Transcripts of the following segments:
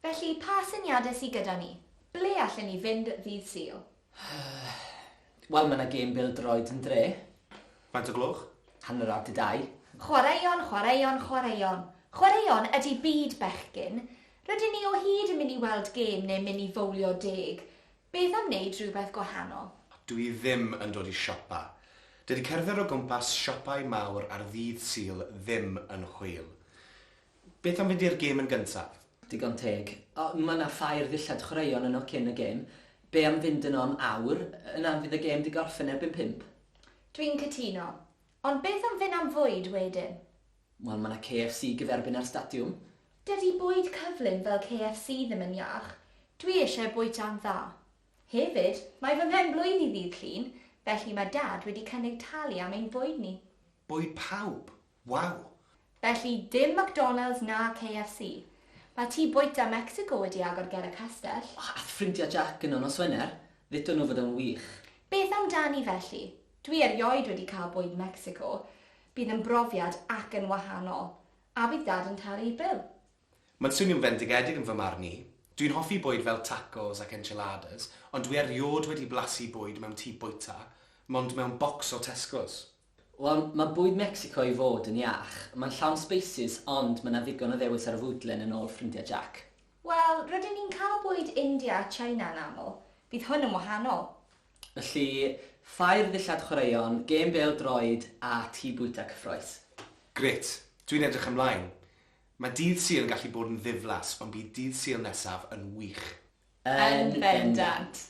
Felly, pa syniadau sy gyda ni? Ble allen ni fynd ddydd Sul? Wel, mae yna gêm bêl-droed yn dre. Faint o gloch? Hanner awr 'di dau. Chwaraeon, chwaraeon, chwaraeon. Chwaraeon ydi byd bechgyn. Rydyn ni o hyd yn mynd i weld gêm neu mynd i fowlio deg. Beth am wneud rhywbeth gwahanol? Dw i ddim yn dod i siopa. Dydy cerdded o gwmpas siopau mawr ar ddydd Sul ddim yn hwyl. Beth am fynd i'r gêm yn gyntaf? Digon teg. O, ma' 'na ffair ddillad chwaraeon yno cyn y gêm. Be' am fynd yno am awr? Yna fydd y gêm 'di gorffen erbyn pump. Dwi'n cytuno. Ond beth am fyn' am fwyd wedyn? Wel, ma' 'na KFC gyferbyn â'r stadiwm. Dydi bwyd cyflym fel KFC ddim yn iach. Dwi isie bwyta'n dda. Hefyd, mae fy mhen-blwydd i ddydd Llun, felly ma' Dad wedi cynnig talu am ein bwyd ni. Bwyd pawb? Waw! Felly dim McDonalds na KFC. Mae tŷ bwyta Mecsico wedi agor ger y castell. O, ath ffrindia Jac yno nos Wener, ddudon nhw fod o'n wych. Beth amdani felly? Dwi erioed wedi cael bwyd Mecsico, bydd yn brofiad ac yn wahanol. A bydd Dad yn talu'r bil. Mae'n swnio'n fendigedig yn fy marn i. Dwi'n hoffi bwyd fel tacos ac enchiladas, ond dwi eriod wedi blasu bwyd mewn tŷ bwyta, mond mewn bocs o Tesco's. Wel, mae bwyd Mecsico i fod yn iach. Mae'n llawn sbeisys, ond mae 'na ddigon o ddewis ar y fwydlen yn ôl ffrindiau Jack. Wel, rydyn ni'n cael bwyd India a China yn aml. Bydd hwn yn wahanol. Felly, ffair ddillad chwaraeon, gêm bêl droed a tŷ bwyta cyffrous. Grêt! Dwi'n edrych ymlaen! Mae dydd Sul yn gallu bod yn ddiflas, ond bydd dydd Sul nesaf yn wych! Yn bendant!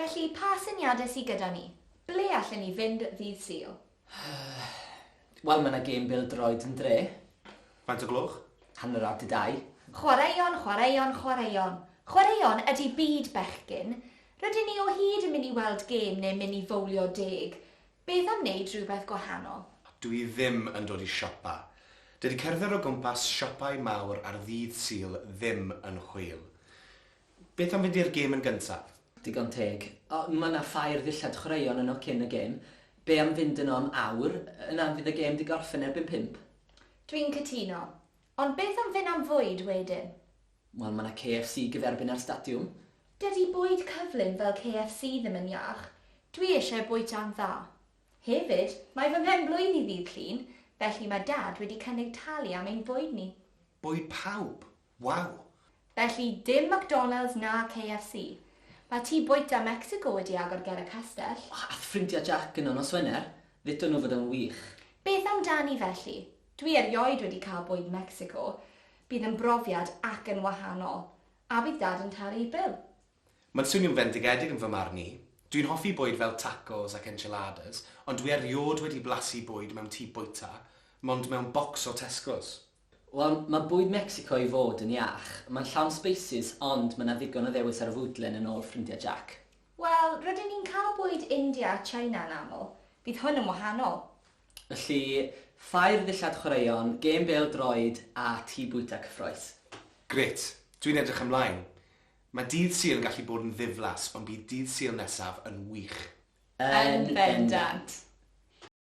Felly, pa syniadau sy gyda ni? Ble allen ni fynd ddydd Sul? Wel, mae 'na gêm bêl-droed yn dre. Faint o gloch? Hanner awr 'di dau. Chwaraeon, chwaraeon, chwaraeon. Chwaraeon ydi byd bechgyn. Rydyn ni o hyd yn mynd i weld gêm neu mynd i fowlio deg. Beth am wneud rhywbeth gwahanol? Dw i ddim yn dod i siopa. Dydy cerdded o gwmpas siopau mawr ar ddydd Sul ddim yn chwil. Beth am fynd i'r gêm yn gyntaf? Digon teg. O, ma' 'na ffair ddillad chwaraeon yno cyn y gêm. Be' am fynd yno am awr? Yna fydd y gêm 'di gorffen erbyn pump. Dwi'n cytuno. Ond beth am fyn' am fwyd wedyn? Wel, ma' 'na KFC gyferbyn â'r stadiwm. Dydi bwyd cyflym fel KFC ddim yn iach. Dwi eisiau bwyta'n dda. Hefyd, mae fy mhen-blwydd i ddydd Llun, felly ma' Dad wedi cynnig talu am ein bwyd ni. Bwyd pawb? Waw! Felly dim McDonalds na KFC. Mae tŷ bwyta Mecsico wedi agor ger y castell. O, ath ffrindia Jac yno nos Wener. Ddudon nhw fod o'n wych. Beth amdani felly? Dwi erioed wedi cael bwyd Mecsico. Bydd yn brofiad ac yn wahanol. A bydd Dad yn talu'r bil. Mae'n swnio'n fendigedig yn fy marn i. Dwi'n hoffi bwyd fel tacos ac enchiladas, ond dwi eriod wedi blasu bwyd mewn tŷ bwyta, mond mewn bocs o Tesco's. Wel, mae bwyd Mecsico i fod yn iach. Mae'n llawn sbeisys, ond mae 'na ddigon o ddewis ar y fwydlen yn ôl ffrindiau Jack. Wel, rydyn ni'n cael bwyd India a China yn aml. Bydd hwn yn wahanol. Felly, ffair ddillad chwaraeon, gêm bêl-droed a tŷ bwyta cyffrous. Grêt! Dwi'n edrych ymlaen! Mae Dydd Sul yn gallu bod yn ddiflas, ond bydd Dydd Sul nesaf yn wych! Yn bendant!